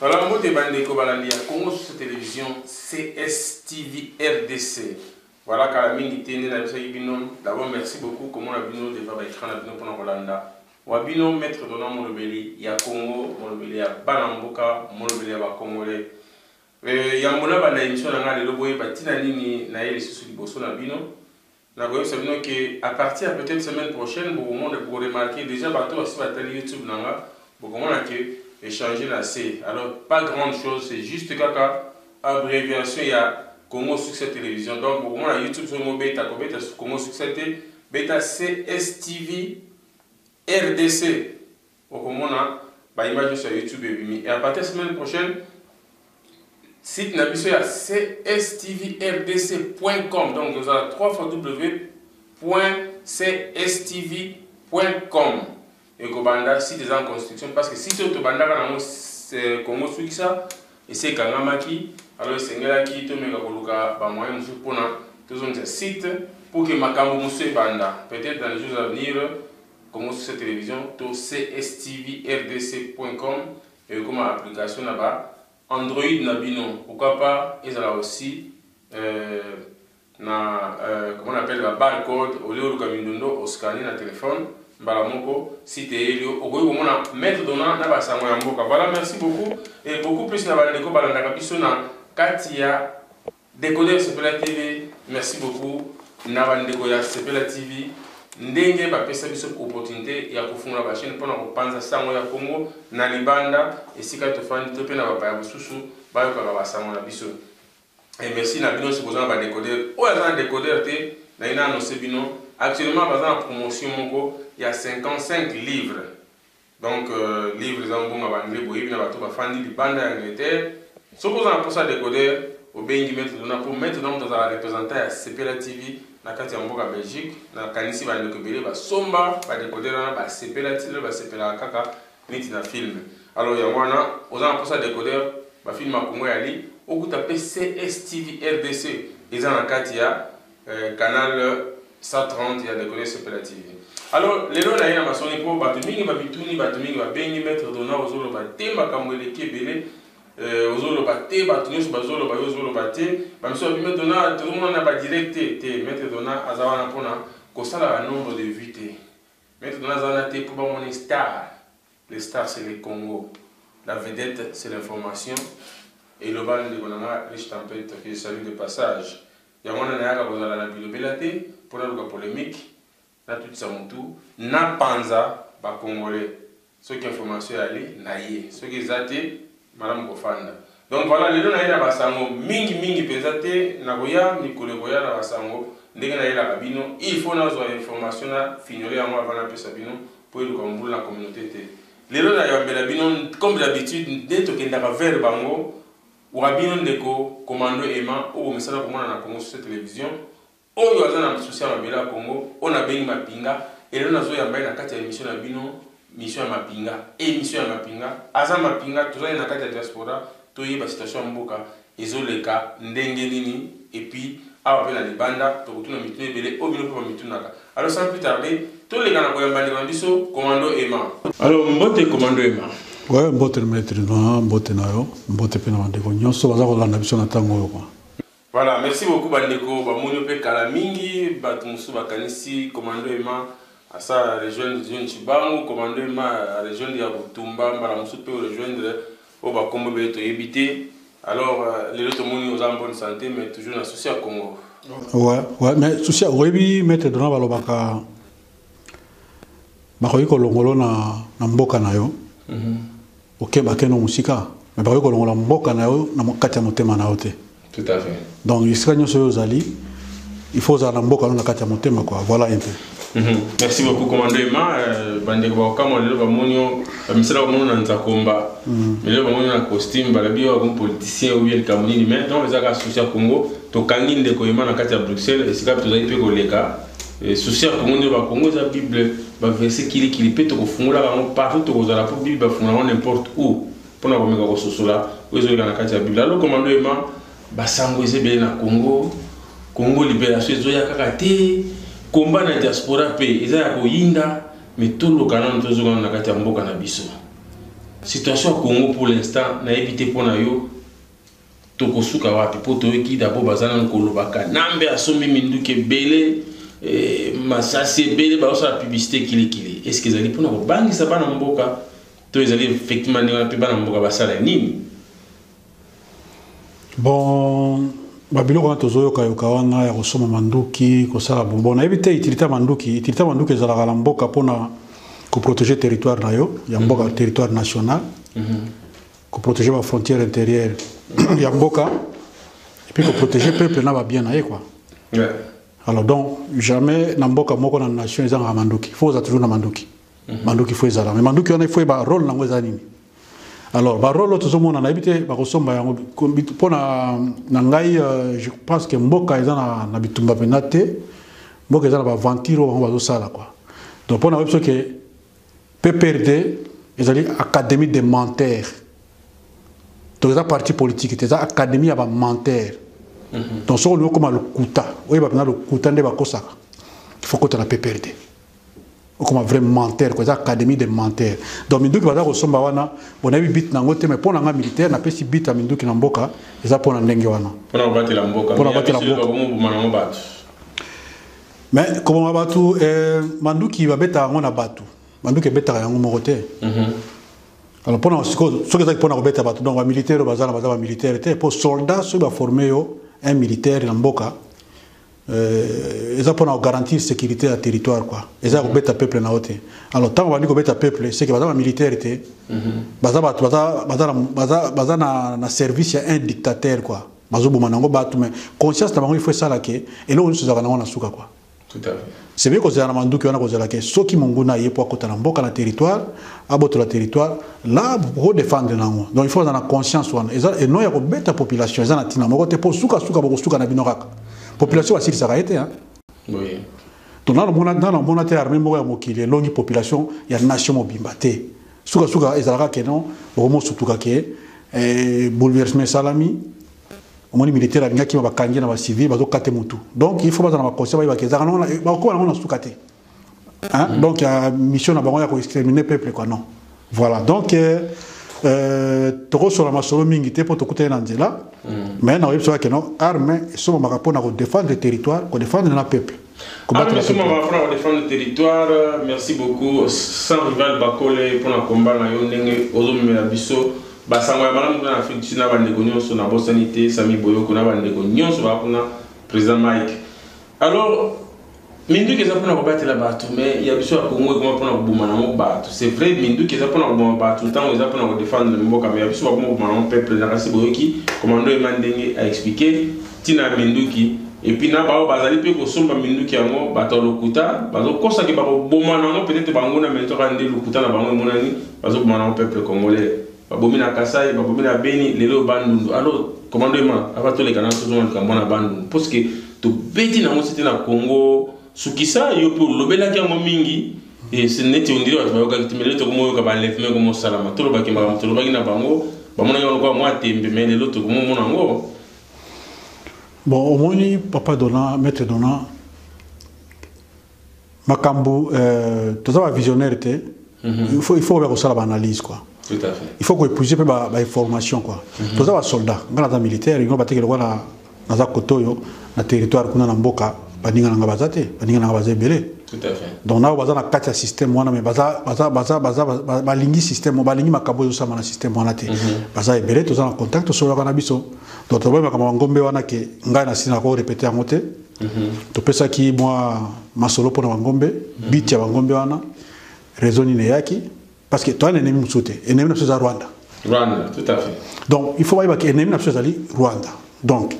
Voilà, mbote bandeko balandi ya Congo sur télévision CSTV RDC. Voilà kala mingi te nde nayebisaki bino. D'abord merci beaucoup komona bino devant ba écran na bino mpona kolanda wa bino maître Donald molobeli ya Congo, molobeli ya bana mboka, molobeli ya ba Congolais. Euh, yambo na banda émission na ngai lelo boyeba ntina nini naye lisusu liboso na bino. Nakoyebisa bino que à partir ya peut etre semaine prochaine bokomona boko remarquer dejà batu basi batali youtube na nga bokomona que echange na se alors pas grande chose c'est juste kaka abreviation ya Congo succès television donc bokomona youtube soki mobeta kobeta Congo succès te beta CSTV rdc Okomona ba images nionso ya YouTube ebimi et à partir ya semaine prochaine site na biso ya cstv-rdc.com donc oza na www.cstv.com ekobanda site eza en construction parce que site oyo tobandaka nango euh, Congo Sukisa esi ekangamaki alors esengelaki tomeka koluka ba moyen mosusu mpona tozongisa site pour que makambo mosusu ebanda peut-être dans les jours à venir Congo Social Television to cstvrc.com ekoma application na ba Android na bino, pourquoi pas ezala aussi euh, na euh, comment on appelle ba barcode au lieu oluka mindondo o scanner na telephone mbala moko site eyeli yo okoki komona maître dona na basango ya mboka. Voilà, merci beaucoup et beaucoup plus na bandeko balandaka biso na kati ya Decoder Sepela TV merci beaucoup na ba ndeko ya Sepela TV ndenge ba pesa biso opportunite ya ko fungola ba chaine pona ko panza sango ya Congo na libanda esika to fandi to pe na ba paya mususu ba yokaka ba sango na biso. Et merci na bino soki boza na ba decoder. Oyo aza na decoder te na lingi na annoncer bino actuellement baza na promotion moko ya 55 livres Donc livre eza mbonga ba anglais boyebi na bato bafandi libanda ya Angleterre soki oza na posa ya decoder obengi maitre Donat po maitre Donat moto azala representant ya sepela TV na kati ya mboka Belgique na kanisi ba ndeko ebele ba somba ba decoder wana ba sepela ti lelo ba sepelaka kaka neti na film alors yango wana oza na posa ya decoder ba film ya Congo ya li okuta pe CSTV rdc eza na kati ya Eh, canal 130 ya ndeko ne sepela tv alors lelo na ye na masoni mpo bato mingi bamituni bato mingi babengi maître dona ozoloba te makambo eleki ebele euh, ozoloba te bato nyonso bazoloba yo ozoloba te bamiso babi maître dona tozomona na badirect te te maître dona aza wana mpona kosala ba nombre de vue te maître dona aza wana te mpo bamoni star le star c'est le congo la vedette c'est l'information eloba ndeko na nga riche tempete que je salue de passage Yango wana nayaka kozala na bilobela te po naluka polemique, natutisa mutu, napanza ba congolais. Soki information eyali, naye. Soki eza te, malamu kofanda. Donc voila, lelo naye na ba sango, mingi mingi penza te, nakoya mikolo ekoya na ba sango ndenge nayelaka bino, il faut nazua information na fignole yango avant napesa bino po eluka mobulu na communaute te. Lelo nayambela bino comme d'habitude nde tokendaka vers bango, Wa bino ndeko commando Emma o bo mesana komona na Congo sur cette television oyo aza na souci ya mabele ya Congo oyo na bengi mapinga elelo nazo yamba ye na kati ya emission na bino mission ya mapinga e mission ya mapinga aza mapinga toza ne na kati ya diaspora to yeba situation ya mboka ezo leka ndenge nini et puis awa pe na libanda toko tuna mituna ebele oyo bino pe ba mitunaka Alors sans plus tarder, toleka na koyamba ndeko na biso Commando Emma. Alors mbote Commando Emma. Ouais, mbote na maître na mbote na yo, mbote pe na bandeko nyonso baza kolanda biso na tango oyo kwa. Voilà, merci beaucoup bandeko bamoni mpe kala mingi bato mosusu bakanisi commando ema asa rejoindre John Chibangu, commando ema rejoindre ya Butumba, mbala mosusu mpe rejoindre oyo ba kombo ebele toyebi te alors lelo tomoni oza en bonne santé mais toujours na souci ya congo ouais, ouais, mais souci oyebi maître dona balobaka bakoki kolongolo na, na mboka na yo mm -hmm. okebake no mosika me bakoki kolongola mboka na yo na kati ya motema na yo te Tout à fait. Donc esika nyoso yo ozali, il faut ozala na mboka no na kati ya motema quoi. Voilà un peu. Mhm. Merci beaucoup commando Emma, euh, bandeko ba okamwa lelo ba monio, ba misala ba monio na nzakomba. Mhm. Lelo ba monio na costume, ba labi yo comme politicien ou bien le Camerounais, mais donc ezaka associé à Congo, to kangi ndeko Emma na kati ya Bruxelles, esika tozali pe koleka. Euh, souci ya Congo nde ba Congo eza Bible, ba verset kili kili pe to kofungola bango partout to kozala pour Bible ba fungola n'importe où. Mpo na komeka kososola oyo ezoleka na kati ya Biblia, alo komando ema basango eza ebele na Congo. Congo liberation ezoya kaka te, combat na diaspora mpe eza ya koyinda, mais toloka nanu tozonga nanu na kati ya mboka na biso. Situation ya Congo pour l'instant nayebi te mpo na yo tokosuka wapi mpo toyoki dabord baza nanu koloba kanambe asombi minduki ebele eh, masasi ebele bazosala publicité kilikili eske ezali mpona kobangisa bana mboka to ezali effectivement ndenge wana mpe bana mboka basala nini bon babiloko wana tozoyokayoka wana ya kosomba manduki kosala bonbon nayebi te itilita manduki itilita manduki ezalaka na mboka mpona koprotege territoire na yo ya mboka mm -hmm. territoire national mm -hmm. koprotege bafrontière intérieure ya mboka epuis koprotege peuple na babien na ye kua yeah. alors donc jamais na mboka moko na nation ezangaka manduki fo oza toujours na manduki Mhm. manduki fo ezala mais manduki wana ifo yeba role nango eza nini alors barole oyo tozomona nayebi te bakosomba yango mpo na ngai euh, je pense que mboka eza na, na bitumba mpenza te mboka eza na baventure oyo bango bazosala kua donc mpo na oyebi soki pprd ezali académie de menter donc eza parti politique te eza académie ya bamenter mhm. donc soki olingi okoma lokuta oyeba mpenza lokuta nde bakosaka ifo kota na pprd okoma vrai menteur ko eza académie de menteur donc minduki baza kosomba wana bonayebi bit nango te mais mpo na nga militaire napesi bit ya minduki na mboka eza mpo na ndenge wana mpo na kobatela mboka mpo na kobatela mboka koboma nango bato mais koboma bato eh, manduki babetaka yango na bato manduki ebetaka yango moko te mhm. alors mpo na sikoyo soki ezaki mpo na kobeta bato donc bamilitaire oyo baza na baza bamilitaire te mpo soldat soki baforme yo un militaire na mboka Euh, eza pona garantir sécurité ya territoire quoi eza ko beta peuple na ote alors tango bandi ko beta peuple c'est que baza ba militaire te mhm. baza bato baza baza baza baza na na service ya un dictateur quoi bazo boma nango bato mais conscience na bango il faut sala que eloko nyoso ezaka nango na suka quoi tout à fait Sebe kozela na manduki wana kozela ke soki monguna aye po akota na mboka na territoire abotola territoire la ko defendre nango donc il faut na conscience wana eza et non ya ko beta population eza na tina moko te po suka suka boko suka na bino kaka population basilisaka ye te hein oui donc nano mona nano mona te armée moko ya mokili elongi population ya nation mobimba te suka suka ezalaka ke non bokomosutuka ke eh, bouleversement esalami omoni militaire alingaki ma bakangi na bacivil bazokate mutu donc il faut bazala na baconse bayebaka ezaka bakoba nango na suka te hein? donc ya mission na bango ya koextermine peuple quoi non voilà donc euh, euh, tokosola masolo mingi te mpo tokutani na nzela mm. mais nakoyebisa keno arme esomamaka mpo na kodefendre territoire kodefendre na peuple Kobatela Arme Soma va prendre défendre territoire. Merci beaucoup sans rival Bakole pour na combat na yo ndenge ozo mela biso ba sango ya malamu na Afrique du Sud na ba ndeko nyonso na bosani te Sami Boyoko na ba ndeko nyonso ba kuna président Mike. Alors minduki eza pona kobatela bato mais ya biso ya congo ekoma pona koboma nango bato c'est vrai minduki eza pona koboma bato ntango eza pona kodefendre mboka mais ya biso bakoma koboma nango peuple na kasi boyoki komando ema ndenge aexplike ntina ya minduki et puis na baoyo bazali mpe kosomba minduki yango bato ya lokuta bazokosa ke bakoboma na yango peut-être banguna mais nzoka nde lokuta na bango emonani bazoboma na yango peuple congolais babomi na kasai babomi na beni lelo bandundu alors commando ema ava toleka na tozonga likambo na bandundu parce que tobeti na yango sete na congo sukisa yo mpe olobelaki yango mingi neti ondire bato bayokaki te mais lelo tokomoyoka baleveme komosalama tolobaki makambo tolobaki na bango bamonaki yango lokola mwa tembe mais lelo tokomomona yango bon omoni papa dona maître dona makambo euh, toza bavisionnaire te mm -hmm. il faut, il faut oya kosala baanalyse quoi Tout à fait. il faut koépouser mpe bainformation ba quoi mm -hmm. toza basoldat ngai naza militaire yango bateke lokola naza kotoyo na territoire kuna na mboka baninga na ngai baza te baninga na ngai baza ebele donc nao baza na kati ya système wana mais baza baza baza baza balingi système balingi makambo ezosama na système wana te mhm. baza ebele toza na contact tosololaka na biso donc tobai makambo ya ngombe wana ke ngai na sina ko répéter yango te mhm. topesaki mwa masolo mpo na bangombe mhm. biti ya bangombe wana réseau nini eyaki parce que toyana enemi mosusu te enemi na biso eza rwanda rwanda tout à fait donc il faut bayeba ke enemi na biso ezali rwanda donc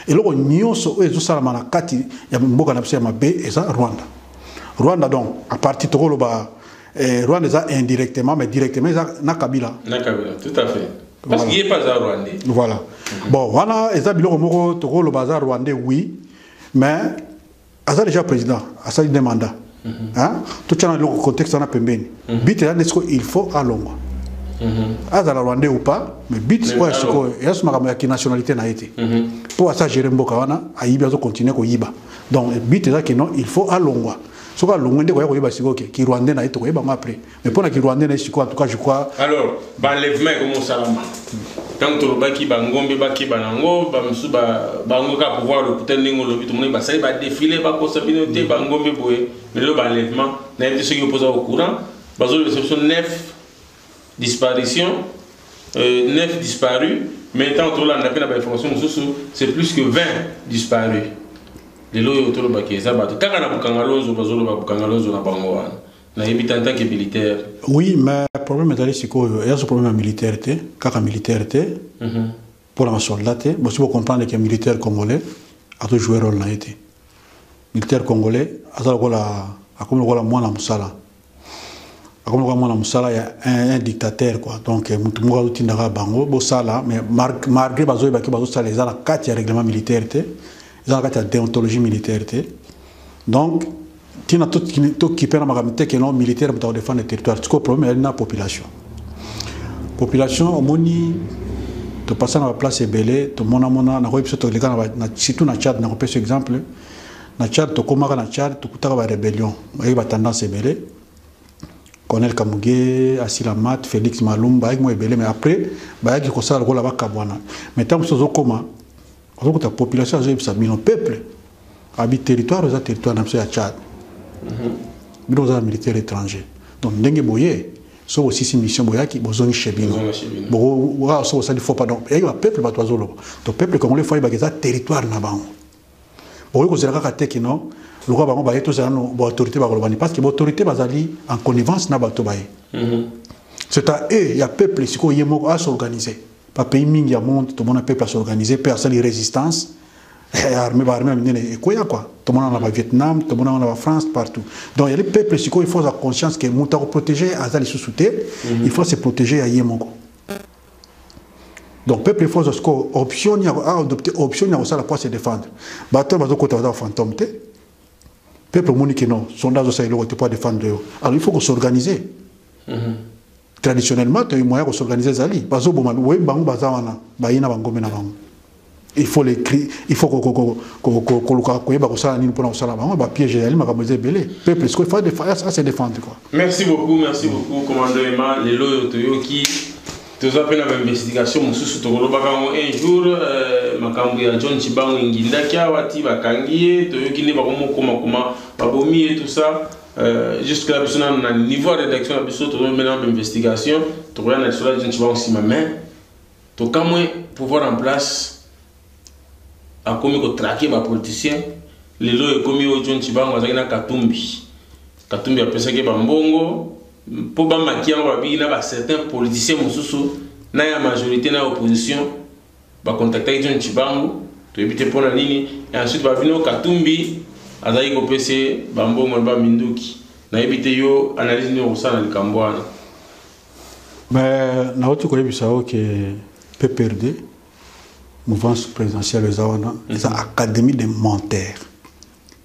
eloko nyonso oyo ezosalama na kati ya mboka na biso ya mabe eza rwanda rwanda donc apartir tokoloba eh, rwanda eza indirectement mais directement eza na kabila na kabila tout à fait parce voilà. qu'il est pas aza rwandais voilà mm -hmm. bon wana eza biloko moko tokoloba aza rwandais oui mais aza déjà président asali nde mandat mhm. totyana eloko contexte wana pembeni mhm. bit eza nde sikoyo il faut alongwa mhm. azala rwandais ou pas mais bit oyo ya sikoyo eza so makambo ya kinationalité na ye te mpo asa gere mboka wana ayibi azokontinue koyiba donc bit eza kino il faut alongwa soki alongwe nde koya koyeba sikoyo ke kirwandais na ye tokoyeba yango après mais mpo na kirwandais na ye sikoyo en tout cas je crois alors baenlèvement ekomi osalama ntango tolobaki bangombe bakeba nango bamosusu bango kaka pouvoir lokuta ndenge olobi tomoni basali badefile bakosa bino te bangombe boye lelo baenlèvement nayebi te soki opoza au courant bazolobisa biso 9 disparition 9 euh, disparu mais ntango tolanda mpe na bainformation mosusu c'est plus que 20 disparu lelo oyo tolobaki eza bato kaka na bukangalonzo bazoloba bukangalonzo na bango wana nayebi te en tant que militaire oui mais problème ezali sikoyo eya so problème ya militaire te kaka militaire te mm -hmm. mpo na basoldat te bosi bocomprendre ke militaire congolais azo joue role na ye te militaire congolais aza lokola akomi lokola mwana mosala akomi lokola mwana mosala ya un, un dictateur quoi donc eh, motu moko azotindaka bango bosala mais malgré bazoyebaki bazosala eza na kati ya règlement militaire te eza na kati ya deontologie militaire te donc ntina tokipe na makambo te keno militaire moto akodefendre territoire tiko problème eyali na population population omoni topasa na baplace ebele tomonamona nakoki biso toleka surtout na tchad nakopesa exemple na tchad tokomaka na tchad tokutaka barébellion oyeki batendance ebele colonel kamuge asila mat félix malumba ayeki mwa ebele mais après bayaki kosala lokola bakabwana mais ntango mosusu ozokoma Ozokuta population azoyebisa bino peuple abi territoire eza territoire na biso ya Tchad. Mhm. Bino oza militaire étranger. Donc ndenge boye soki bosisi mission boyaki bozongi chez bino. Bokowa soki osali faux pardon. Eyaki ba peuple bato bazoloba. To peuple congolais fo ayebaka eza territoire na bango. Bokoki kozela kaka te kino lokola bango baye tozala no baautorité bakolobani parce que baautorité bazali en connivence na bato baye. Mhm. C'est à eux ya peuple sikoyo ye moko asorganiser. Ba pays mingi ya monde tomona peuple a s'organiser pe asali resistance eh, armée ba armée minene ekoya quoi tomona na ba Vietnam tomona na ba France partout donc yali peuple siko il faut avoir conscience que muta ko protéger aza lisusu te mhm. il faut se protéger ya yemoko donc peuple il faut siko option ya a adopter option ya kosala pour se défendre ba to bazo kota baza fantôme te peuple moni que non sondage osa eloko te pour défendre yo alors il faut ko s'organiser traditionnellement to moyen ko s'organiser ezali bazo boma oyebi bango baza wana baye na bangombe na bango il faut les cris il faut koluka koyeba kosala nini mpona kosala bango bapiège ezali makambo eza ebele peuple sikoyo à se défendre quoi merci beaucoup merci beaucoup commando ema lelo oyo toyoki toza mpe na bainvestigation mosusu tokolobaka yango un jour euh, makambo ya john chibango engindaki awa ti bakangi ye toyoki nde bakomokomakoma babomi ye tout ça Euh, jusque là biso nanu na niveau ya rédaction na biso tozomela na investigation tokoya na lisolo ya jinci bango nsima mais tokamwe pouvoir en place akomi kotrake bapoliticien lelo ekomi oyo john cibango azalaki na katumbi katumbi apesaki bambongo mpo bamaki yango babiki na bacertain politicien mosusu na ya majorité na ya opposition Ba contactaki John Tshibangu, toyebi te mpo na nini, et ensuite balobi no Katumbi azalaki kopesa ye ba mbongo na ba minduki. Nayebi te yo analyse nini okosala na likambo wana. Mais nauti koyebisa yo ke PPRD mouvance présidentielle eza wana eza mhm. académie de menteurs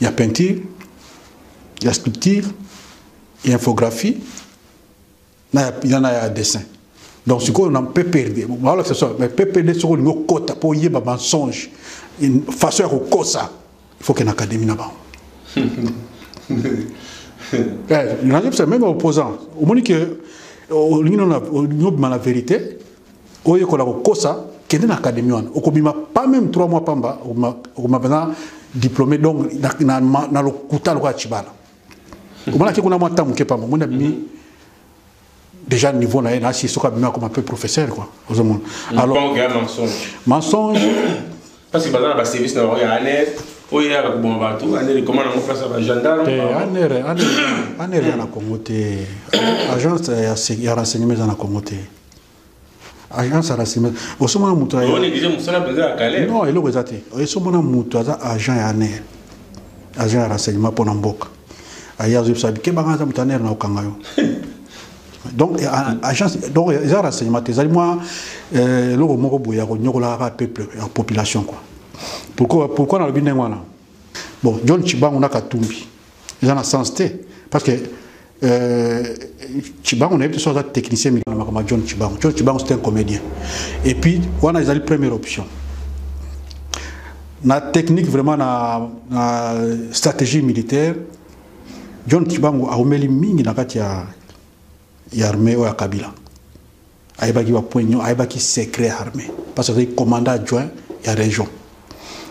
ya peinture ya sculpture ya infographie na ya, na ya dessin donc sikoyo na ppd baolakisa so mais ppd soki olingi okota mpo oyeba mensonge façon ya kokosa il faut kena académie na bango nazobisa meme opposant omoni ke olingi obima na vérité oyekola kokosa kende na académie wana okobima pas même 3 mois pamba okobima mpenza diplômé donc na, na, na, na lokuta lokola cibala omonaki kuna mwa ntango moke pamba omoni abimi déjà niveau na ye na asi soki abimi akoma mpe professeur quoi ozomona alors mensonge parce que baza na baservice na bango ya aner oyo eyaka koboma bato aner ekoma nango place ya bagendarme aner aner ya na congo te agence ya renseignement eza na congo te agent sarasime osomona moto non eloko eza te esomona moto aza agent ya aner agent ya renseignement mpo na mboka aye azoyebisa bikebanga aza moto aner na kokanga yo donc agence donc eza renseignement te ezali mwa euh, eloko moko boye ya konyokolaka peuple ya population quoi pourquoi pourquoi nalobi ndenge wana bon john chibangu na katumbi eza na sens te parce que Euh, Chibango nayebi te soki aza technicien mingi na makambo ya John Chibango. John Chibango c'est un comédien. Et puis wana ezali première option. Na technique vraiment na, na stratégie militaire John Chibango aumeli mingi na kati ya ya armée oyo ya Kabila. ayebaki ba point nyo ayebaki secret armée parce que azalaki commandant adjoint ya région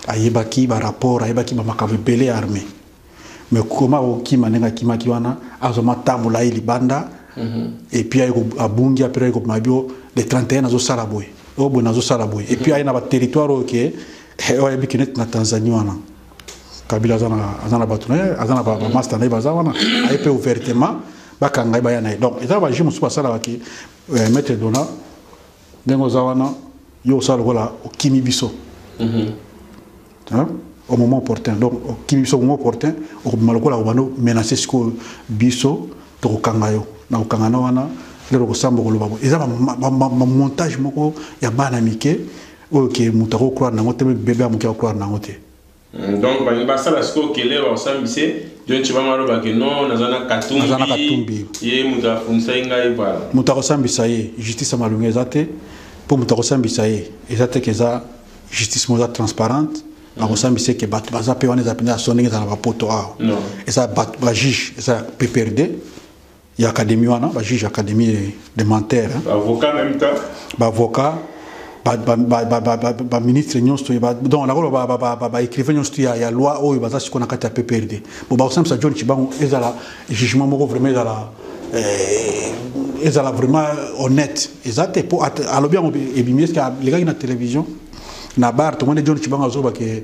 ayebaki ba rapport ayebaki ba makambo ebele ya armée mais koma akokima ndenge akimaki wana azwa matambola ye libanda mhm. et puis abungi apres aye kobima bio le 31 azosala boye oyo boye nazosala boye et puis aye na baterritoire oyo ke oyo ayebi ke neti na tanzanie wana kabila aza na aza na bato na ye aza na bamasta na ye baza wana aye mpe ouvertement bakanga ye baya na ye donc eza bajuge mosusu basalaka ki euh, maître dona ndenge oza wana yo osala lokola okimi biso mhm. au moment opportun donc okimi biso au moment opportun okobima lokola kobanda menace sikoyo biso tokokanga yo na kokanga na wana lelo okosamba okoloba bo eza bamontage moko ya bana mike oyo ke moto ako croire nango te meme bebe ya moke ako croire nango te hmm, donc balingi basala sikoyo kele baosambise john chibanga aloba ke no naza na katumbi ye moto afundisaki ngai bala moto akosambisa ye justice ya malongi eza te mpo moto akosambisa ye eza te ke eza justice moko eza transparente bakosambisa eke bato baza mpe wana eza mpenza ya so ndenge eza na bapoto awa eza bato bajuge eza ya pprd ya académie wana ba juge académie de menteur hein. avocat même temps ba avocat baministre nyonso donc nakoloba baécrivain nyonso tu ya loi oyo baza sikoyo na kati ya pprd bo bakosambisa john cibango ezala jugement moko vraiment ezala eh, ezala vraiment honnête eza te mpo alobi yango ebimi eske alekaki na télévision na bar tomoni john cibango azobake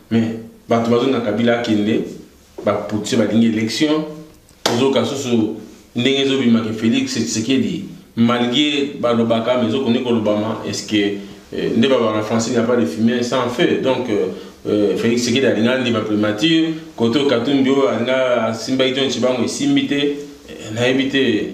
Mais bato bazonga Kabila akende ba putse balingi election ozoka susu ndenge ezobima ke Felix Tshisekedi malgré balobaka mais ezokoni kolobama est-ce que euh, nde babaka français il n'y a pas de fumée sans feu donc euh, euh, Felix Tshisekedi alinga ndima primature koto Katumbi oyo alinga asimbaki John Tshibangu esimbi te nayebi te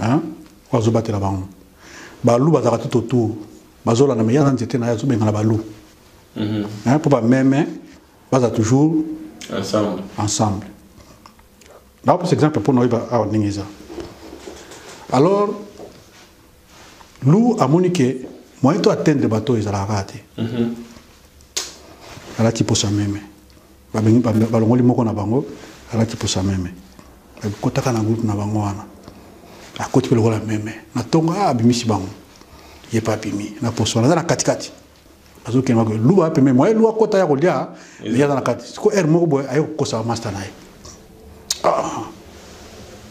hein oyo azobatela bango balu bazalaka tout autour bazolanda me yaza nzete na ye azobengana balu mhm. hein, mpo bameme baza toujours ensemble, ensemble. napesa exemple mpo na oyeba awa ndenge eza alors lu amoni ke moyen to atteindre bato ezalaka kaka te mhm. alati mposa meme balongoli moko na bango alati posa meme akotaka na groupe na bango wana akoti mpe lokola meme na ntongo a ah, abimisi bango ye mpe abimi na poso wana aza na katikati azokende mako luba mpe meme aye luba kota ya kolia ye aza na kati siko heure moko boye aye kokosa bamasta na ye ah,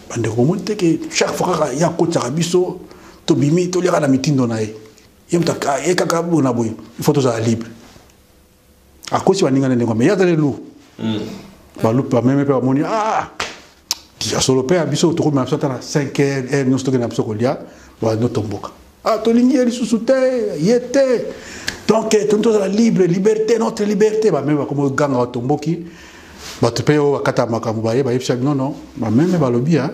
bandeko bomoni te ke chaque fois kaka ye akotisaka biso tobimi toliaka na mitindo na ye ye kaka bona boye il faut tozala libre akosi baninga na ndenge mais ye azali lu hmm. balupe bameme mpe bamoni ah, ya solo mpe ya biso tokomema biso ata na 5 heure heure nyonso tokende na biso kolia bano tomboka ah, tolingi ye lisusu te ye te donc eh, toni tozala libre liberté notre liberté bameme bakoma oganga batomboki bato mpe oyo bakata makambo baye bayebisa bino no bameme balobi ya ah,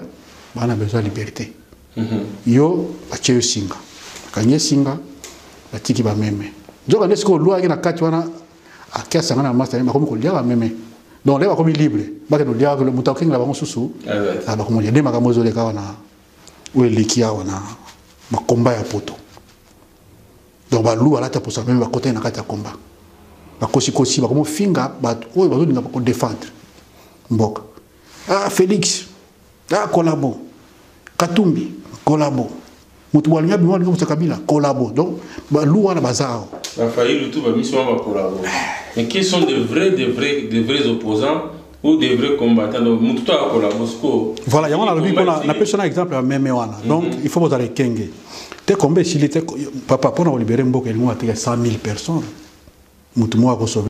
bana besoin liberté Mhm. yo batie yo singa akangi ye singa batiki bameme nzoka nde sikoyo lwa ayaki na kati wana ake asanga na masta bakomi kolia bameme donc lelo bakomi libre bakende olia moto akokengela bango susu ah ah, bakomolia nde makambo ezoleka wana oyo eleki awa na makomba ya poto donc balu alata posa meme bakotani na kati ya komba bakosikosi bakomofinga bato oyo bazolinga kodefendre mboka ah Felix ah collabo Katumbi collabo moto boalingi abima alingi kosa kabila collabo donc balu wana baza awa bafailu tu bamisi wana bakolabo mais qui sont de vrais de vrais de vrais opposants ou de vrais combattants donc moto to akolabo sikoyo voilà yango nalobi mpona napesi wana exemple ya meme wana mhm. donc il faut bozala ekenge te komba esili te papa mpona kolibere mboka elingo ateka 100 000 personnes moto moko akosove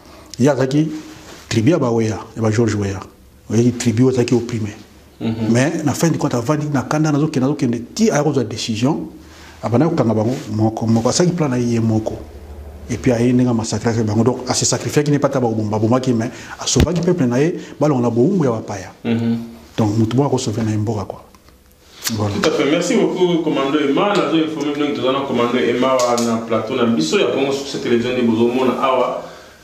ye azalaki tribu ya baweya ya bageorge weya oyaki tribu oyo azalaki oprime mhm. mais na fin du compte avandi na kanda nazokende nazokende ti aya kozwa décision abanda kokanga bango moko moko asalaki plan na ye ye moko epuis aye ndenge amasakraki bango donc ase sacrifiaki ne pata babomaki mais asovaki peuple na ye balonga na bowumbu ya bapaya mhm. donc motu moko akosove na ye mboka kua Bon. Tout à fait. Merci beaucoup, Commando Emma. Nous avons informé que nous avons Commando Emma na plateau na biso ya Congo sur cette télévision de Bozomona Awa.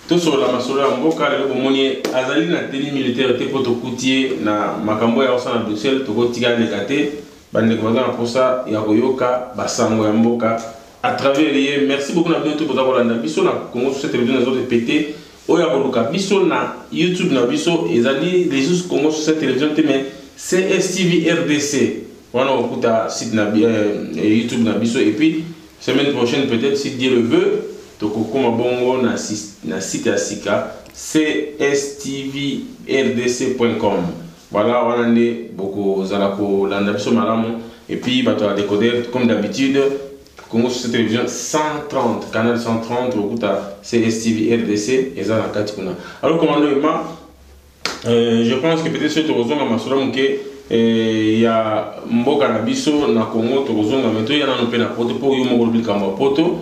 Tout sur la masolo ya mboka lelo bomoni azali na tenue militaire te po tokutie na makambo ya osa na Bruxelles tokotika leka te bande ko na posa ya koyoka basango ya mboka à travers ye. Merci beaucoup na bino tout boza kolanda biso na Congo sur cette télévision na zo répéter Oyo akoluka biso na YouTube na biso ezali Lisusu Congo sur cette television te mais CSTV RDC. Wana okuta site na euh, YouTube na biso et puis semaine prochaine peut-être si Dieu le veut tokokoma bongo na, na site ya sika cstvrc.com. Voilà wana nde bokozala kolanda biso malamu et puis bato ya decoder comme d'habitude Congo sur télévision 130 canal 130 lokuta CSTV RDC eza na kati kuna alors commando Emma euh, je pense que peut-être soki tokozonga masolo moke eh, ya mboka na biso na Congo tokozonga me toya nano mpe na poto mpo yo moko olobi likambo ya poto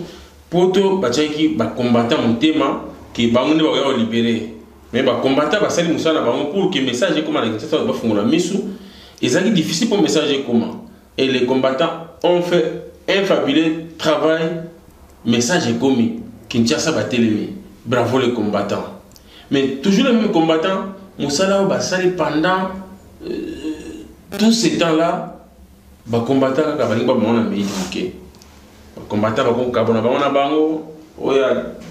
poto batiaki bacombatant motema ke bango nde bakoya kolibere me bacombatant basali mosala na bango pour ke message ekóma na kinshasa bafungola misu ezalaki difficile mpo message ekóma et les combattants ont fait un fabuleux travail message ekomi kinshasa batelemi bravo les combattants mais toujours les mêmes combattants mosala oyo basali pendant euh, tout ce temps là bakombata kaka balingi bamona meyi moke Ba combattants ba ko kabona bango na bango, oyo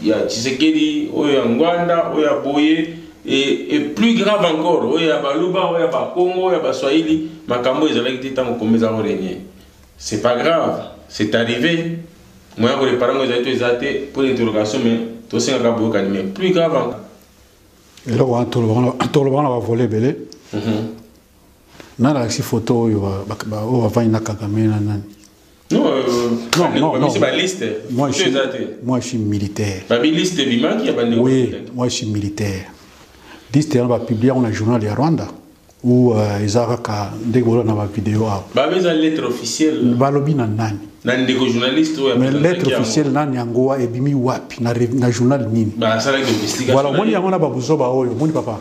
ya Tshisekedi, oyo ya Ngwanda, oyo ya boye et, et plus grave encore, oyo ya baluba, oyo ya ba kongo, oyo ya ba swahili, makambo oyo ezalaki te tango Congo eza ko regner. C'est pas grave, c'est arrive, moyen ya ko reparer yango ezali to eza te, point d'interrogation, mais to senga kaka boyokani, mais plus grave encore. Eloko wana tolobaka na ba volet ebele. Mhm. Nalakisi photo oyo oyo bavandi na Kagame na nani. Non, euh, non, non, non. Ba liste. Moi, je suis, moi, je suis militaire. Ba liste bimaki ya bande. Oui, moi, je suis militaire. Liste on va publier on a journal de Rwanda ou euh, ezaraka ndeko bola na ba vidéo a. Ba beza lettre officielle. Ba lobi na nani? Na ndeko journaliste ou Mais lettre officielle nani yango ebimi wapi na na journal nini? Ba sala domestique. Voilà, moni yango na ba buzoba oyo, moni papa.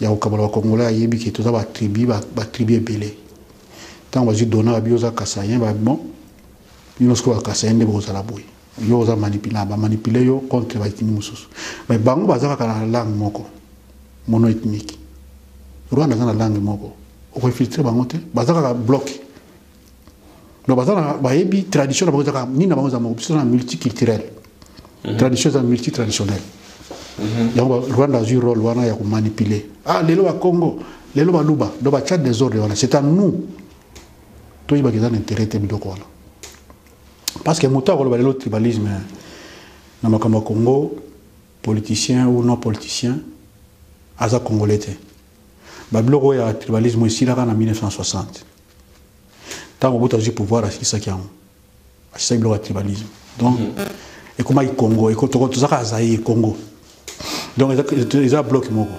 ya kokabola ba congolais ayebi ke toza ba tribu ba tribu ebele ntango bazwi dona babi oza kasayen ba bon bino sikoyo ba kasayen nde bokozala boye yo oza manipula bamanipule yo contre baetini mosusu mais bango baza kaka na langue moko mono ethnique rwanda aza na langue moko okoinfiltre bango te baza kaka bloke donc baza na bayebi tradition na bango ezaka nini na bango eza moko biso na multiculturel mhm. tradition eza multitraditionel mhm. yango rwanda azwi role wana ya komanipule ah lelo bakongo lelo baluba donc batya desordre wana c'est à nous toyebaka eza na intérêt te biloko wana parce que moto akoloba lelo tribalisme na makambo ya congo politicien ou non politicien aza congolais te babiloko oyo ya tribalisme esilaka na 1960 ntango mobutu azwi pouvoir asilisaki yango asilisaki biloko ya tribalisme donc mhm. ekomaki congo toza kaka zaire congo donc eza bloc moko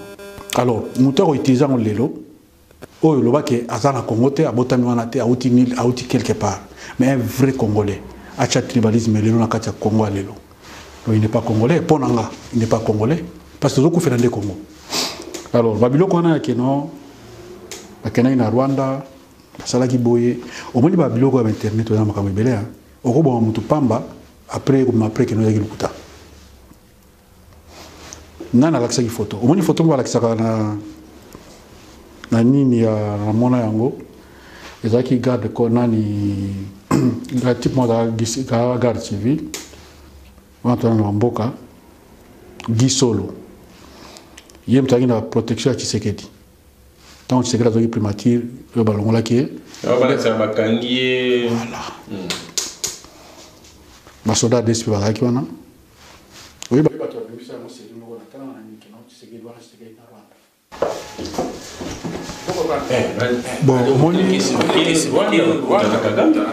alors moto akoutilize yango lelo oyo loba ke aza na congo te abotami wana te auti quelque part mais un vrai congolais atya tribalisme lelo na kati ya congo ya lelo Non, il n'est pas congolais. Mpo na nga, il n'est pas congolais. Parce que tozokufela nde Congo. Alors, babiloko wana ya keno, bakendaki na Rwanda, basalaki boye. Omoni babiloko ya bainternet oyo na makambo ebele, hein. okoboma motu pamba, après ekobima après keno ezaki lokuta. Nga nalakisaki foto. Omoni foto moko balakisaka na na nini ya na mona yango ezalaki garde corps nani type moko azalaka garde civile wana tozalaki na mboka gisolo ye moto azalaki na protection ya tshisekedi ntango tshisekedi azwaki primature oyo balongolaki ye bakangi ye basoda dsp bazalaki wana oyebi bato babimisa yango seli moko na tanga na mikino tshisekedi wana tshisekedi na rwanda bon omoni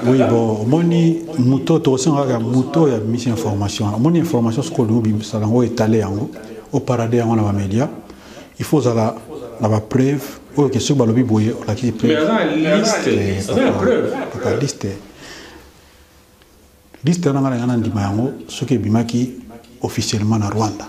oui bon omoni moto tokosenga kaka moto ya mise information wana omoni information soki olingi obimisa yango etale yango oparade yango na bamédia il faut ozala na bapreuve oyo ke soki balobi boye olakisi preuveaka liste liste wana ngai na ngai na ndima yango soki ebimaki officiellement na rwanda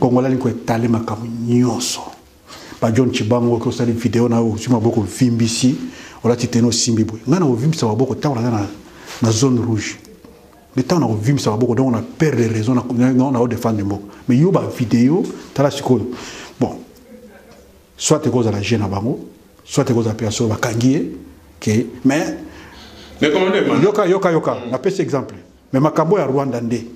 Congolais alingi koetale makambo nyonso ba John Chibango oki osali video na yo ozwi maboko ovimbisi olati tene osimbi boye ngai nakovimbisa maboko ntango naza na, na zone rouge nde ntango nakovimbisa maboko donc na perdre raison nao defendre mboka mais yo bavideo tala sikoyo bon soit ekozala je na bango soit ekozala mpe ya solo bakangi ye ke mais yoka yoka yoka napesi exemple Mais makambo ya Rwanda nde.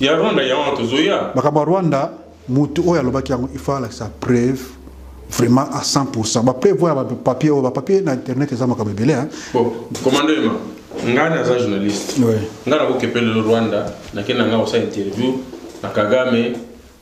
Ya Rwanda ya wana tozoya. Makambo ya Rwanda mutu oyo alobaki yango il faut alakisa preuve vraiment à 100%. Ba preuve ya ba papier oyo ba papier na internet eza makambo ebele hein. Bon, commando Emma, ngai naza journaliste. Ouais. Ngai nakokepele Rwanda, nakenda ngai osa interview na Kagame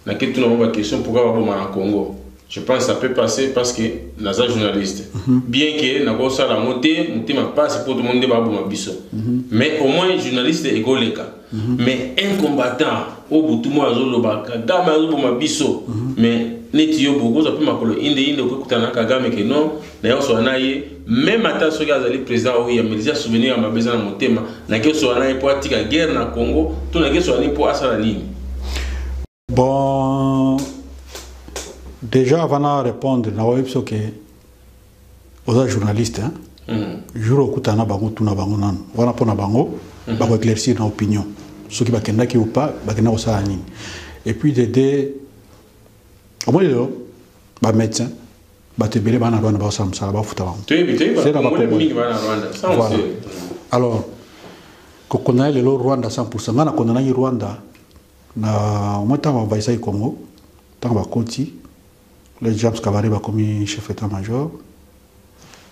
Na ke tuna ba question pourquoi ba boma na Congo. Je pense ça peut passer parce que naza journaliste. Mm -hmm. Bien que na ko sala ngo te, mutema passe pour tout le monde ba boma biso. Mm -hmm. Mais au moins journaliste e goleka. Mm -hmm. Mais un combattant au butu mo azo loba Kagame azo boma biso. Mm -hmm. Mais neti yo bokoza pe makolo inde inde okutana Kagame ke non naye osola na ye meme ata soki azali président oyo yameli eza souvenir ya mabe eza na motema nake osola na ye mpo atika guerre na congo to nake osola nini mpo asala nini bon déjà avant na répondre na oyebi so ke oza journaliste hein? mm. jour okutana na bango tuna bango nanu wana mpo na bango mm -hmm. bakoéclaircir na opinion soki bakendaki ou pas bakenda kosala nini et puis dede omoni lelo bamédecin bato ebele bana rwanda bakosala mosala bafuta bango alors kokondana lelo rwanda 100 ngai nakondanaki rwanda na omoi ntango bavayisaki congo ntango bakoti le james kabare bakomi chef état major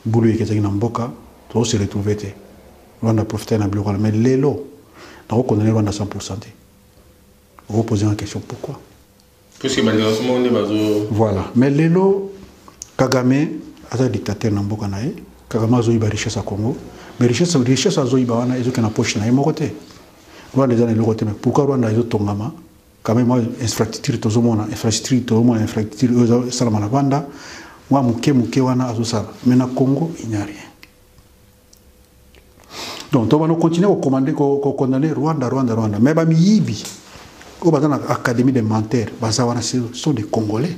bulu eketaki na mboka tozose retrouve te rwanda profite na biloko wana mais lelo nakokondana rwanda 100 te okopose na question pourquoi puisque ba nation moko nde bazo voilà mais lelo kagame aza dictateur na mboka na ye kagame azoyiba richesse ya congo mais richesse richesse azoyiba wana ezokende na poche na ye moko te rwanda eza na eloko te mais pourquoi rwanda ezotongama quand même infrastructure tozomona infrastructure tozomona infrastructure oyo esalama na rwanda mwa moke moke wana azosala mais na congo il n'y a rien donc to bano continuer ko commander ko condamner Rwanda Rwanda Rwanda mais ba miyibi au baza na académie des menteurs baza wana sont des congolais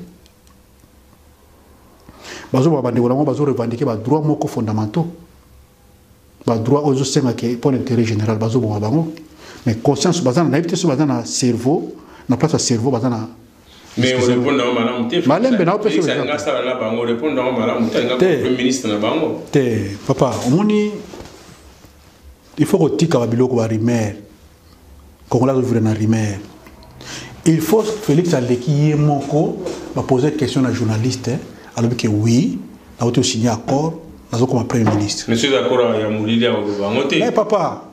bazo ba bande wala bazo revendiquer ba droits moko fondamentaux ba droits ozo senga ke pour l'intérêt général bazo ba bango mais conscience baza na naïveté sur baza na cerveau na place ya cerveau baza na mais on répond na malamu te malembe na opesa nga nga sala la bango répond na malamu te nga premier ministre na bango te papa omoni il faut ko tika ba biloko ba rumeur kongola ko vivre na rumeur il faut Félix aleki ye moko ba poser question na journaliste alobi que oui na auto signer accord nazo comme premier ministre monsieur d'accord ya mulili ya bango te mais papa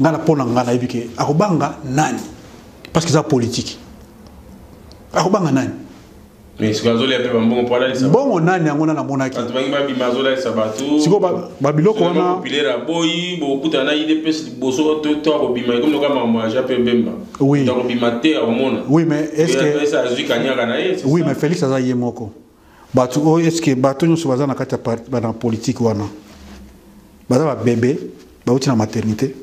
nga na pona nga nayebi ke akobanga nani parce que eza politique akobanga nani mbongo nani yango na namonaki sikoyo babiloko wana oui mais félix aza ye moko bato oyo oh, eske bato nyonso baza na kati ya bana politike wana baza babebe bauti na maternité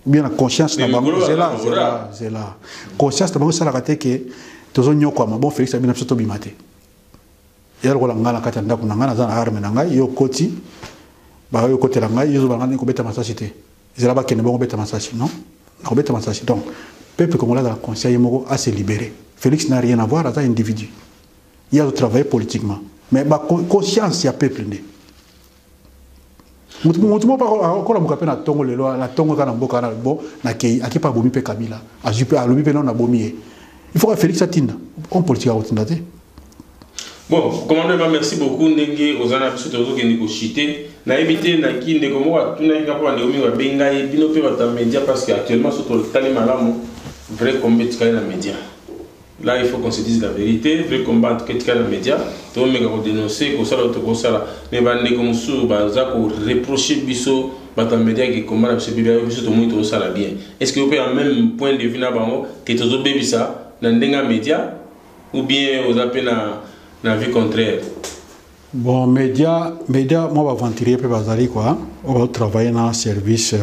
bien na conscience na bango zela zela zela conscience na bango esalaka te ke tozonyokwama bon félix abina biso tobima te ya lokola ngai na kati ya ndako na ngai naza na arme na ngai yo okoti bayo okotela ngai yo zobala ngai kobeta masasi te ezala bakende bongo beta masasi non nakobeta masasi donc peuple congolais azala conscient ye moko ase libéré félix na rien avoir aza individu ye azo travailler politiquement mais ba conscience ya peuple nde motu motu moko akolamuka mpe na ntongo lelo na ntongo kaka na mboka wana bo nakei ake mpe abomi mpe kabila azwi mpe alobi mpe nao nabomi ye il faut ka félix atinda homme politique akotinda te bon commando ema merci beaucoup ndenge oza na biso tozokende kochite nayebi te naki ndeko moko atunaki nga mpo bandeko mingi babengi ngai bino mpe bato ya média parce que actuellement so totali malamu vrai combe etikali na média Là, il faut qu'on se dise la vérité. Vrai combat, en tout cas, tika na média. To meka ko dénoncer, ko sala to ko sala. Mais ba ndeko mususu ba za ko reprocher biso ba ta média ki combat na biso bibia biso to moni to sala bien. Est-ce que vous pouvez en même point de vue na bango que to zo bebisa na ndenga média ou bien aux appels na na vie contraire? Bon, média, média, moi, aventurier, peut bazali quoi. On va travailler dans service. Euh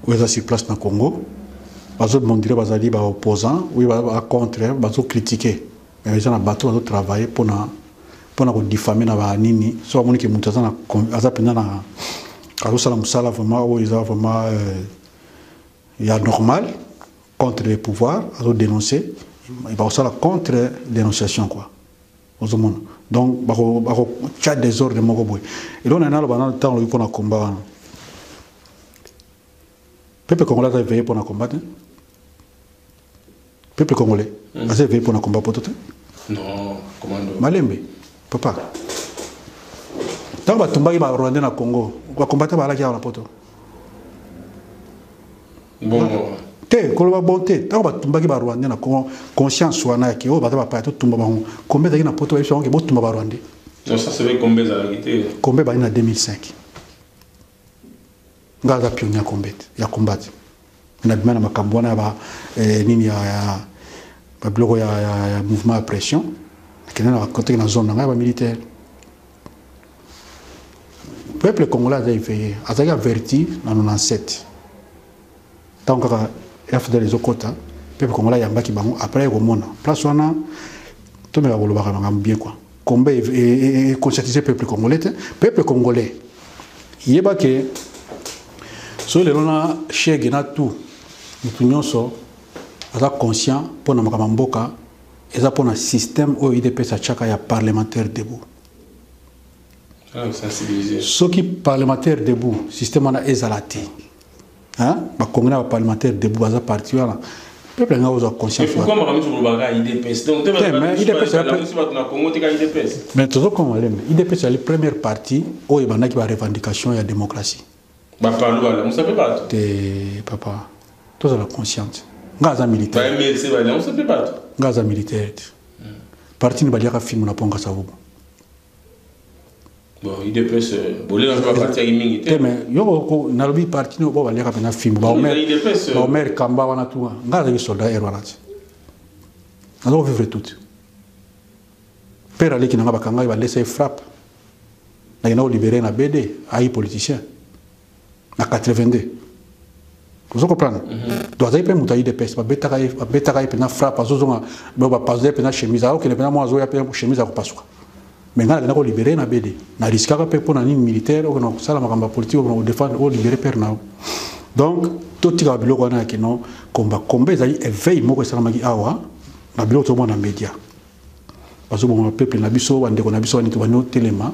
oyo aza sur place na Congo bazo mondire bazali ba opposants oui ba contre bazo critiquer mais eza na bato bazo travailler pona pona ko diffamer na ba nini so amoni ke mutu aza na aza penza na azo sala musala vraiment oyo eza vraiment euh, ya normal contre le pouvoir azo dénoncer bakosala contre dénonciation quoi ozomona donc bakotya bako, desordre moko boye eloko na naloba nano ntango lobi mpo na komba wana pepe congolais aza eveye mpo na komba te pepe congolais mm. aza eveye mpo na komba poto te malembe papa ntango batumbaki barwandais na congo bakombata baalaki awa na poto Bongo. te koloba bon te ntango batumbaki barwandais na congo conscience wana yake oyo baza bapaya totumba bango kombe ezalaki na poto bayebisa bango ke botumba barwandais kombe bani na 2005 ngai aza pionnier ya kombe te ya combat te nabima na makambo wana ya eh, nini ya babiloko ya mouvement ya pression nakende na koteki na zone na ngai ya bamilitaire peuple congolais aza éveillé azalaki averti na 97 ntango kaka fdl ezokɔta peuple congolais ayambaki bango après ye komona place wana tomeka kolobaka makambo bien kua combat econscientise peuple congolais te peuple congolais yeba ke soki lelo na shege na tout motu nyonso aza conscient mpo na makambo ya mboka eza mpo na système oyo udps atyaka ya parlementaire debout ah, soki parlementaire debout système wana ezala te bakongi na baparlementaire debout baza parti wana peuple anga ozwa conscience mais tozokoma leme udps ezali première partie oyo ebandaki barevendication ya démocratie Ba palu ba lamusa pe bato. Te papa. Toza la consciente. Nga aza militaire. Ba MLC ba lamusa pe bato. Nga aza militaire. Hmm. Parti ni baliaka fimu na ponga sa hubo. Bon, il dépêche. Bolé na parti ya mingi te. Mais yo ko na lobi parti no bo baliaka pe na fimu. Ba omer. Ba omer kamba wana tuwa. Nga aza soldat erwanati. Nazo vivre tout. Père aleki nanga bakangaki ba laisse frappe. Na yena libéré na BD, ayi politicien. Na 82. Vous comprenez mm -hmm. Donc azayi pe muta IDPS, ba betaka ye, ba betaka ye pena frappe, azozonga ba ba passe pena chemise, ayo kende pena mwa azoya pena chemise ya kopasuka. Mais nga na ko libérer na BD. Na riskaka pe pona nini militaire, okona kosala makambo politique, okona ko défendre, o libérer père na. Donc totika biloko wana ya kino komba komba ezali éveil moko esalamaki awa na biloko tomona media bazoboma ba peuple na biso bandeko na biso baniki bani otelema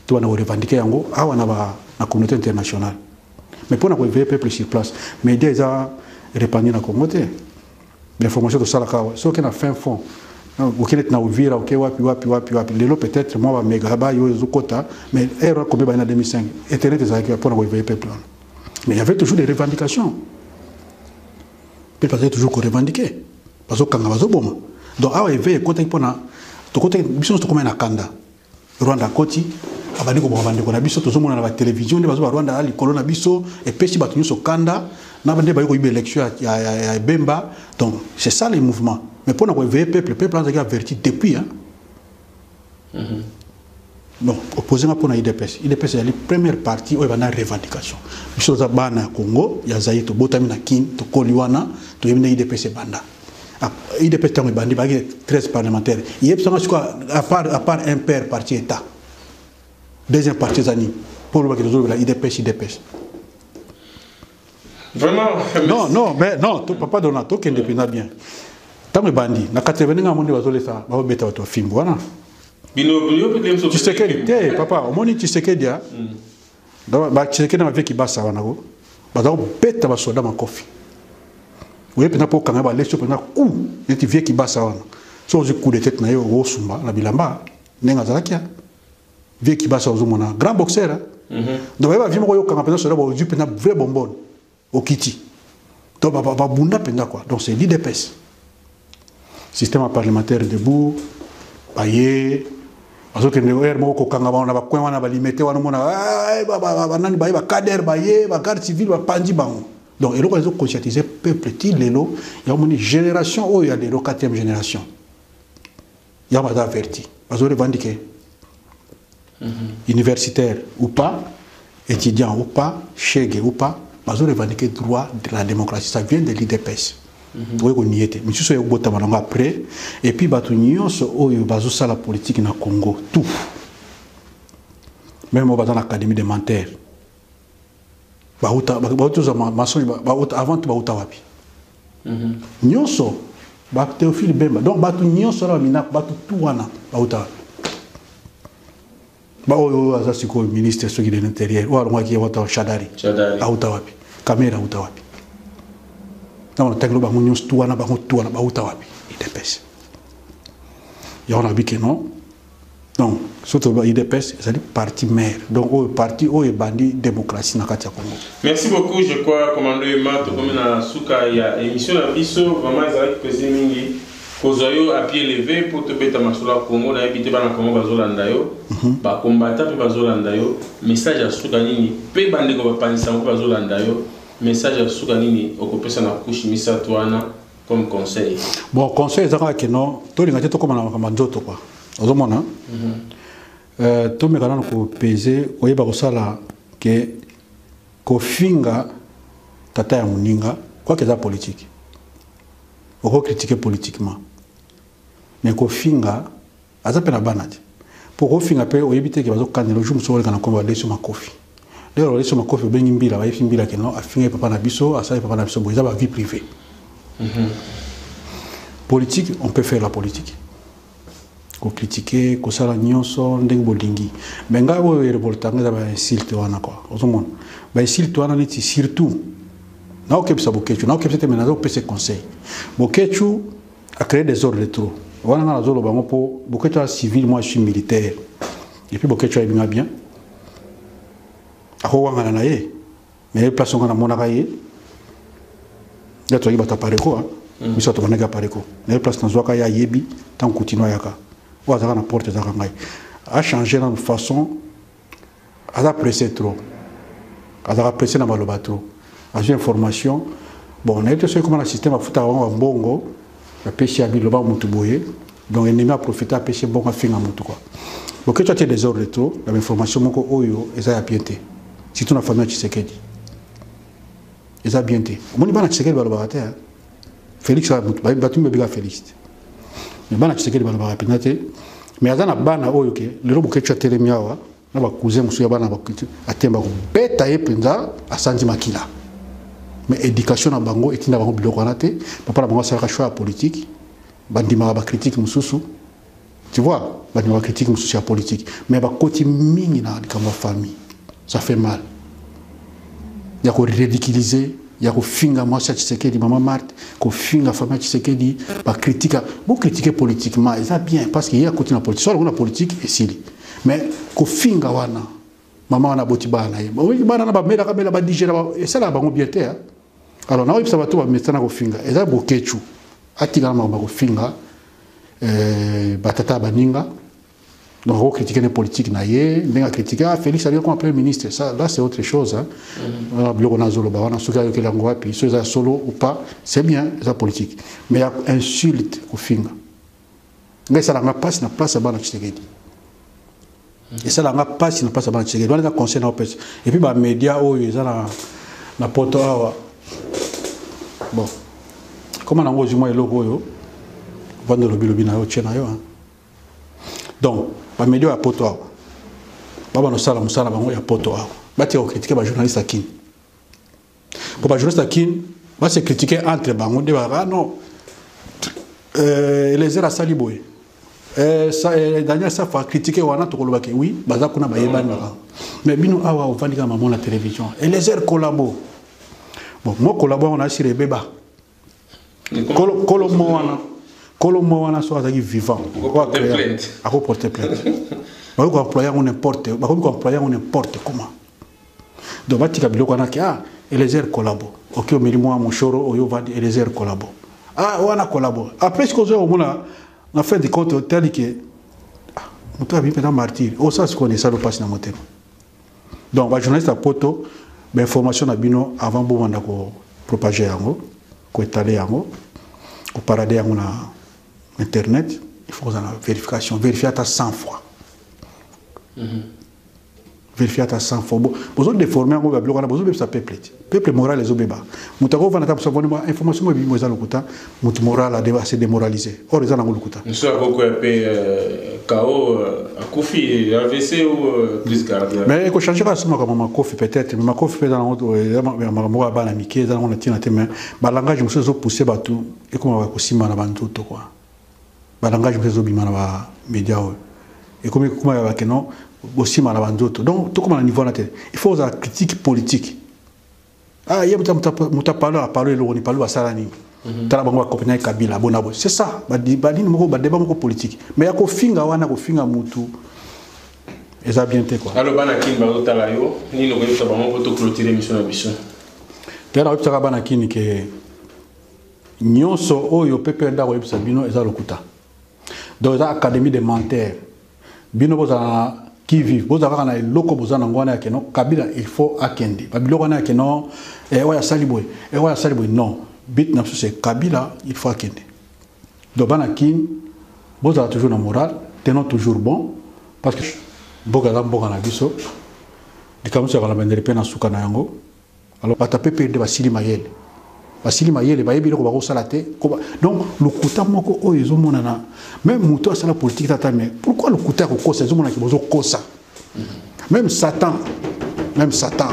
to bana korevandike yango awa na, ba, na communauté internationale mais mpo na koeveye peuple sur place media eza repandi na congo te bainformation tosalaka awa soki na fin fond okende ti na ovira oke wapi wapi wapi wapi lelo peut-être mwa bamega bayo ezokota mais heure akomi baye na 2005 internet ezalaki mpo na koeveye peuple wana mais il y avait toujours des revendications mpe bazali toujours korevendiquer Bazokanga, bazoboma. Donc awa eveil ekotaki mpona tokotaki biso nyonso tokomaki na kanda. Rwanda akoti abandi koboma bandeko na biso tozomona na batelevizio nde bazoba rwanda ya likolo na biso epesi bato nyonso kanda na nde bayi koyiba élection ya, ya, ya ebemba donc c'est ça les mouvements mais mpo na koeveille peuple peuple azalaki averti depuis hein? non opposé nga pona idps idps ezali première partie oyo banda revendication biso toza bana ya congo ya zaire tobotami na kin tokoli wana toyebi nde idps ebanda ah, idps ntango ebandi baki 13 parlementaire yebisanga sikoa apart apart un père parti état deuxième partie eza nini mpo olobaki tozolobela idps idps Vraiment. Non, non, mais non, to, papa Donald, to kende pena bien. Tango ebandi, na 80 nga monde bazo lesa, ba beta watu fimbo wana. Bino bino peut même so. Tshisekedi te, papa, omoni Tshisekedi a. Donc ba Tshisekedi na vie ki basa wana ko. Ba za beta ba soda makofi. Oye pena po kanga ba leso pena ku, neti vie ki basa wana. So ozi coup de tête na yo osumba na bilamba, nenga zalakia. Vieux Kibasa ozo mona grand boxeur hein. Mm -hmm. Donc yeba vieux moko yo kanga pena soda ba ozu pena vrai bonbon. Okiti. Donc ba ba bunda pena quoi. Donc c'est l'IDPS. Système parlementaire debout. Baye bazokende heure moko kokanga bango na bacoin wana balimete wana omona banani baye bacader baye bagarde civile bapanzi bango donc eloko ezo conscientise peuple ti lelo ya omoni génération oyo ya lelo 4e génération ya baza averti bazo revendiquer universitaire ou pas étudiant ou pas chegue ou pas bazo revendiquer droit de la démocratie ça vient de l'idps mhm. oyo konie te misusu ya kobotama nango après et puis bato nyonso oyo bazosala politique na congo tout même oyo baza na académie de mentaire bauta bauta za mensonge bauta avant bauta wapi mhm. nyonso ba Théophile Bemba donc batu nyonso na mina batu tout wana bauta wapi ba oyo aza sikoyo ministre soki de l'intérieur oyo alongaki wata shadari auta wapi kamera auta wapi na wana tangelo bango nyonso tout wana bango tout wana bauta wapi idps yango na bikeno donc soki toloba udps ezali parti mare donc oyo parti oyo ebandi démocratie na kati ya congo merci beaucoup je crois commando ema tokomi na suka ya émission na biso vraiment ezalaki plaisir mingi kozwa yo appuie leve mpo tobeta masolo ya congo nayebi te bana congo bazolanda yo mhm. bakombata mpe bazolanda yo message ya suka nini mpe bandeko bapanzisa yango bazolanda yo message ya suka nini okopesa na kushe misato wana comme conseil bon conseil eza kaka kino tolinga te tokoma na makambo ya nzoto kua ozomona mhm. euh, tomeka nano kopese koyeba kosala ke kofinga tata ya moninga kwaka eza politike okokritike politiquement mais kofinga Aza pe na bana te. Po kofinga pe oyebi te ke bazo kanela jour mosusu oleka na kombo ya Lesio Makofi. Lelo ya Lesio Makofi obengi Mbila bayebi Mbila ke non afingaki papa na biso asali papa na biso boye eza ba vie privee. Mhm. Politique on peut faire la politique. Ko critiquer kosala nyonso ndenge bolingi. Mais ngai oyo e revolta ngai eza ba insulte wana quoi. Ozo mona. Ba insulte wana neti surtout na okebisa Boketshu na okebisa te mais nazo pesa conseil. Boketshu a créer des ordres de trop wana nga nazoloba yango mpo boketsho ya civil moi je suis militaire epuis boketsho ayebi nga bien akowangana na ye mais ye place onga namonaka ye nde tozalaki bato ya pareko hein. mm. biso bato bandaki ya pareko na ye place nazwaka ye ayebi ntango kutino ayaka oyo azalaka na porte ezalaka ngai achange nano façon aza presse trop azalaka presse na maloba trop azwi information bon nayebi te soki ekoma na système afutaka bango bambongo apesi ya biloba motu boye donc ennemi aprofite apesi mbongo afinga motu kua boketwa te desordre trop na bainformation moko oyo eza ya bien te surtout na famille ya tshisekedi eza bien te omoni bana tshisekedi balobaka te Felix a mutu ba batu mbeka Felix. Mais bana Tshisekedi bana ba pinate. Mais aza na bana oyo ke lelo bokechu atelemi awa na ba cousin musuya bana ba kitu atemba ko beta ye penza asanzi makila. Mais éducation na bango etinda bango biloko wana te. Papa na bango asalaka choix politique. Bandimaka ba critique mususu. Tu vois, ba ndima critique mususu ya politique, mais ba koti mingi na likambo famille. Ça fait mal. Ya ko ridiculiser, ya ko finga mwasi ya Tshisekedi, maman Marthe, ko finga famille ya Tshisekedi, ba critique, bo critiquer politiquement, eza bien parce que ye akoti na politique, soit na politique esili. Mais ko finga wana, maman wana boti bana ye. Oui, bana na ba mela ka mela ba digera, esala bango bien te. Alors na oyebisa bato ba metana ko finga, eza boketchu. Atika na makambo ko finga. euh, batata ya baninga donc ako critique ne politique na ye ndenge akritike ah, félix abia koma premier ministre ça là c'est autre chose hein. mm. ah, biloko nazoloba wana soki ayokeli yango wapi soki eza solo ou pas c'est bien eza politique mais ya insulte kofinga ngai esalanga mpasi na place ya bana tshisekedi Mhm. esala nga mpasi na mpasi ya bana tshisekedi wana eza conseil na opesa epuis bamédia oyo eza na, na poto awa bon koma nango ozwi mwa eloko oyo vanda olobilobi na yo otie na yo donc bamédia ya poto awa babana osala mosala bango ya poto awa batika kokritike bajournaliste ya kini Pour les journalistes qui va se critiquer entre bango de ah non euh, Eliezer asali boye euh, euh, Daniel Safa critiquer wana tokolobaki oui baza kuna bayebani baka mais bino awa ofandi kaka mamo na télévision Eliezer collabo bon mo collabo yango na asire ebeba Kolo, kolo mwana. Kolo mwana so azaki vivant. Ako porter plainte. Bako ko employer on n'importe, bako ko employer on n'importe comment. Donc batika biloko wana ke ah Eliezer collabo. Oki omeli mwa moshoro oyo va Eliezer collabo. Ah wana collabo. Après ce qu'on a omona na fin de compte otali ke ah, moto abi pena martyr. Osa sikoyo ne salo pasi na motema. donc ba journaliste ya poto bainformation na bino avant bobanda kopropage yango koetale yango koparade yango na internet il faut kozala na vérification vérifie ata 100 fois mhm. vérifie ata 100 fois bozo déforme yango babiloko wana bozobebisa peuple te peuple moral ezo beba mutu ako vanda ta musu avandi mwa information mwa bimo eza lokuta mutu moral ade se demoraliser or eza nango lokuta musu ako ko pe kao akufi AVC ou crise cardiaque mais eko changer ka suma kama makofi peut-être mais makofi pe dans autre makambo ya bana mike eza nango na tina te mais ba langage musu ezo pousser batu ekoma ba kosimba na bantu to quoi Ba langage mpe ezo bima na ba media oyo. Ekomi kokoma ya ba keno bosima na ba nzoto. Donc tokoma na niveau wana te. Il faut ozala critique politique. Ah ye muta muta palo a palo eloko ni palo basala nini? Mhm. Tala bango ba kopina Kabila bona bo. C'est ça. Ba ba nini moko ba débat moko politique. Mais ya ko finga wana ko finga mutu. Eza bien te quoi. Alors bana kin ba tala yo nini ko yebisa bango ko to clôturer mission na biso. Tala oyebisaka bana kin ke Nionso oyo PPRD akoyebisa bino eza lokuta. Donc eza académie de menteurs. Bino bozala na qui vive bozala kaka na eloko boza na ngwana ya keno Kabila il faut akende. Ba biloko wana ya keno eh oya sali boye, eh oya sali boye non. But na biso c'est Kabila il faut akende. Donc bana kin bozala toujours na morale, tenons toujours bon parce que mboka eza mboka na biso. Likambo ya kala bendele pe na suka na yango. Alors bata PPRD basili mayele. Basili mayele bayebi eloko bakosala te. Donc lokuta moko oyo ezomonana même moto asala politique tata mais pourquoi lokuta ya kokosa ezomonana ke bozokosa. Même Satan, même Satan.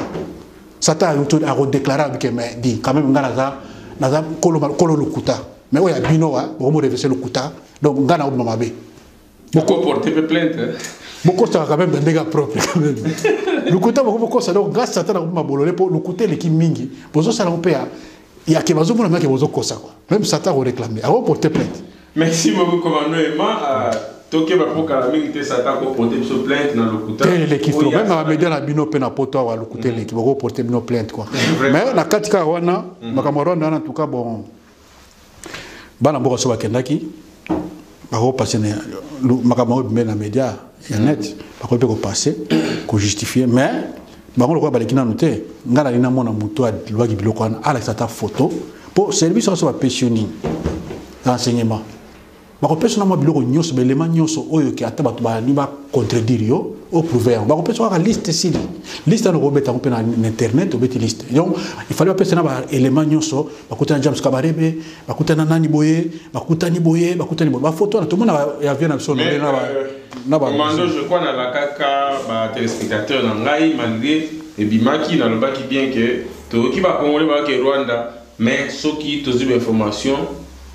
Satan a redéclaré que mais dit quand même ngana za na za kolo kolo lokuta. Mais oya bino wa bomo revese lokuta. Donc ngana obima mabe. Boko porter pe plainte. Hein? Boko ça quand même ndega propre quand même. Lukuta boko boko ça donc grâce à tana kuma bolole po lukuta leki mingi. Bozo ça na pe ya ya ke bazo mona maki bozo kosa quoi. Même ça t'a réclamé. Awo porter plainte. Merci beaucoup commandant Emma. Euh, tokeba mpo kala mingi te satan koporte biso plainte na lokuta te eleki to meme bamedia na bino mpe na poto awa lokuta eleki bakoporte bino plainte kua mais na kati kaka wana makambo ya rwanda wana en tout cas bon bana mboka so bakendaki bakopase makambo yango ebimeli na média ya mm. net bakoki mpe kopase kojustifie mais bango lokola baleki nanu te ngai nalingi namona moto alobaki biloko wana alakisa ata foto mpo service nyonso bapesi yo nini renseignement bakopesa na mwa biloko nyonso baelema nyonso oyo ke ata bato balingi bacontredire yo oprouve yango bakopesa kaka liste esili liste yango okobeta yango mpe na internet obeti liste donc ifali bapesa na baelema nyonso bakutana na james kabarebe bakutana nani boye bakutani boye bakutani boye bafoto wana tomona avio na biso euh, na bamando je crois nalakaka batelespectateur na ngai malgré ebimaki nalobaki bien ke toyoki bakongole bayake rwanda Mais soki tozui ba information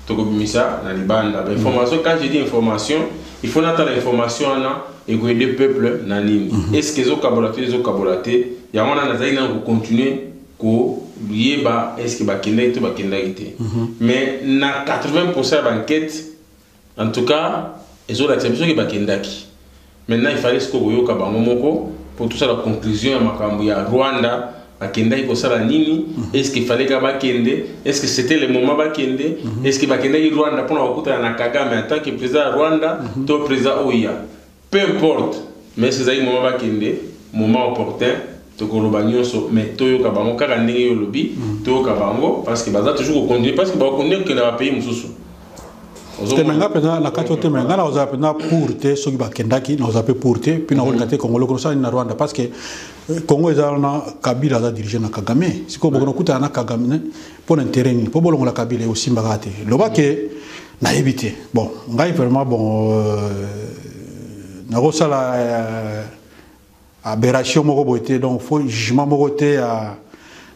toko bimisa na libanda ba information quand je dis information il faut natala information wana eko aider peuple na nini est ce que ezo kabola to ezo kabola te yango wana nazali nanu ko continuer ko yeba est ce que bakendaki to bakendaki te mais na 80% ya ba enquete En tout cas, ezolakisa biso ke bakendaki. Maintenant il fallait sikoyo koyoka bango moko mpo tosala conclusion ya makambo ya Rwanda bakendaki kosala nini est ce qu'il fallait ka bakende est ce que c'était le moment bakende est ce que bakendaki Rwanda mpo na kokutana na Kagame en tant que président ya Rwanda to président oyo ya Peu importe mais ezali moment bakende moment opportun tokoloba nionso mais toyoka bango kaka ndenge yo olobi toyoka bango parce que baza toujours ko continuer parce que ba continuer kokenda ba pays mosusu teme nga mpenza na kati oteme nga na kozala mpenza pour te soki bakendaki na kozala mpe pour te mpe na kolinga te congo loko nosala nini na rwanda parce que euh, congo eza wana kabila aza dirige na kagame sikoyo bokono kutana na kagame mpo na interet nini mpo bolongola kabila ekosimbaka te lobake nayebi te bon ngai vraiment bon euh, nakosala euh, aberration moko boye te donc fo jugement moko te ya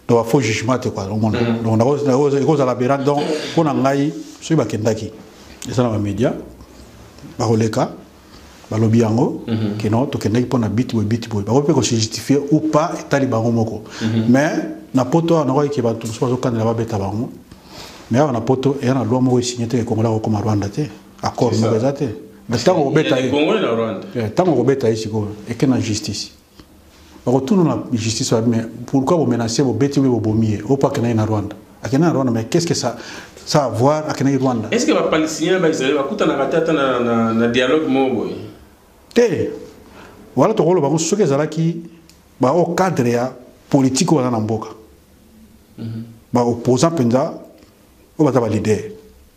donc bafaux jugement te kua omona mm. donc ekozala aberant donc mpo na ngai soki bakendaki eza na bamédia bakoleka balobi yango mm -hmm. kino tokendaki mpo na biti boye biti boye bakoki mpe kosujustifie ou pas etali bango moko mm -hmm. mais na poto awa nakoki ke bato mosusu bazokandela babeta bango mais awa na poto eya na loi moko esigne te ekongola kokoma rwanda te accord moko eza te ntango kobeta ye ntango kobeta ye sikoyo eke na justice bakotuna na justice babi mais pourquoi vous menacez vos bêtises vos bomiers au parc na Rwanda akenda na Rwanda mais qu'est-ce que ça ça a voir akenda na Rwanda est-ce que ba palestiniens ba Israël bakutana katata na na, na dialogue moko boye te wala tokolo bango soki ezalaki ba au cadre ya politique wana na mboka mm -hmm. ba opposant penza au baza ba leader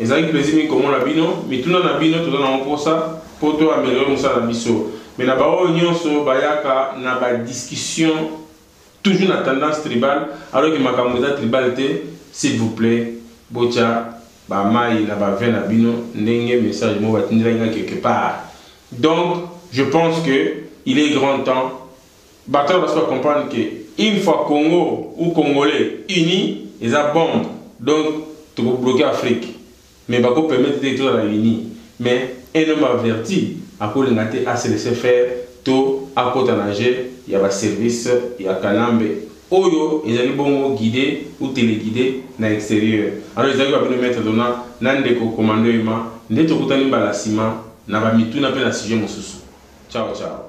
Ezalaki plaisir mingi komona bino. Mituna na bino toza nango posa po to ameliorer musala na biso. Mais na ba oyo nionso bayaka na ba discussion toujours na tendance tribal alors que makambu eza tribal te. S'il vous plait botia ba mayi na ba vin na bino ndenge message moko batindelaki nga quelque part. Donc je pense que il est grand temps. Batala basi ba comprendre que une fois Congo ou congolais unis eza bombe donc toko bloquer Afrique mais bako permettre te tozala unis mais un homme averti akolinga te a se laisser faire to akota na jeux ya ba services ya kanambe oyo ezali bongo guide ou teleguide na exterieur alors ezalaki ba bino maitre dona na ndeko commando emma nde tokutani mbala sima na ba mituna pe na sujet mosusu ciao ciao.